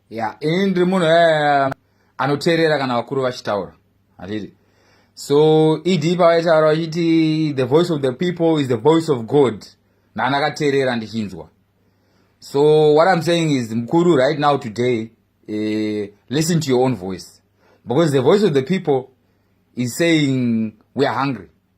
ya ini ndiri munhu eh, anoteerera kana vakuru vachitaura hatidi so ed pavaitaura vachiti the voice of the people is the voice of god nani akateerera ndichinzwa so what i'm saying is mukuru right now today uh, listen to your own voice because the voice of the people is saying we are hungry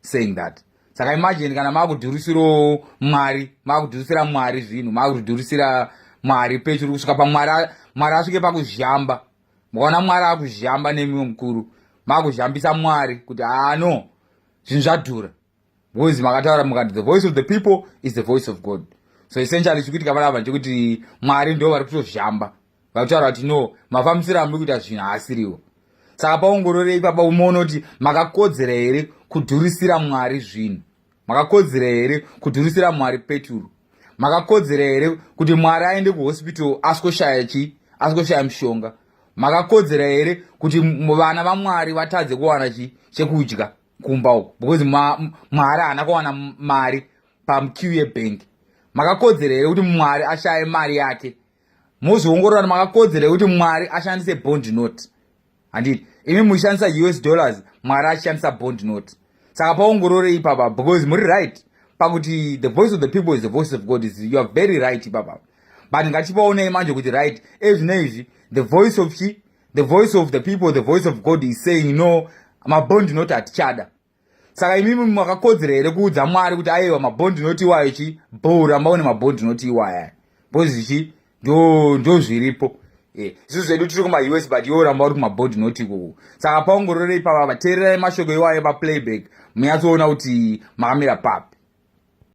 saying that saka imagine kana makudhurisirawo mwari makudhurisira mwari zvinhu makudhurisira mwari pechiri kusvika pamwari mwari asvike pakuzhamba mukaona mwari akuzhamba nemiwo mukuru makuzhambisa mwari kuti ano ah, zvinhu zvadhura bcause makataura mukati the voice of the people is the voice of god so essentially chikuitika panapa ndechekuti mwari ndo vari kutozhamba vakutaura kuti no mafambisiro amuri kuita zvinhu haasiriwo saka paongororei papa umoona kuti makakodzera here kudhurisira mwari zvinhu makakodzera here kudhurisira mwari peturu makakodzera here kuti mwari aende kuhospital asikoshaya chii asikoshaya mushonga makakodzera here kuti vana vamwari vatadze kuwana chii chekudya kumba uko because mwari haana kuwana mari pamq yebhengi makakodzera here kuti mwari ashaye mari yake mozviongorora makakodzera yekuti mwari ashandise bond note handiti imi muchishandisa us dollars mwari achishandisa bond note saka paongorore ipapa because muri right pakuti the voice of the people is the voice of god is youare very right ipapa but ngatipaonei manje kuti right ezvino izvi the voice of chi the voice of the people the voice of god is saying no mabond note hatichada saka imimi makakodzera here kuudza mwari kuti aiwa mabhondi inoti iwayo chi bho ramba une mabhondi inoti iwaya bhozi chi ndo ndo zviripo eh, isu zvedu tiri kumaus but iwo ramba uri kumabhondi inoti ikoko saka paongororei pavava teererai mashoko iwayo paplayback munyatsoona kuti makamira papi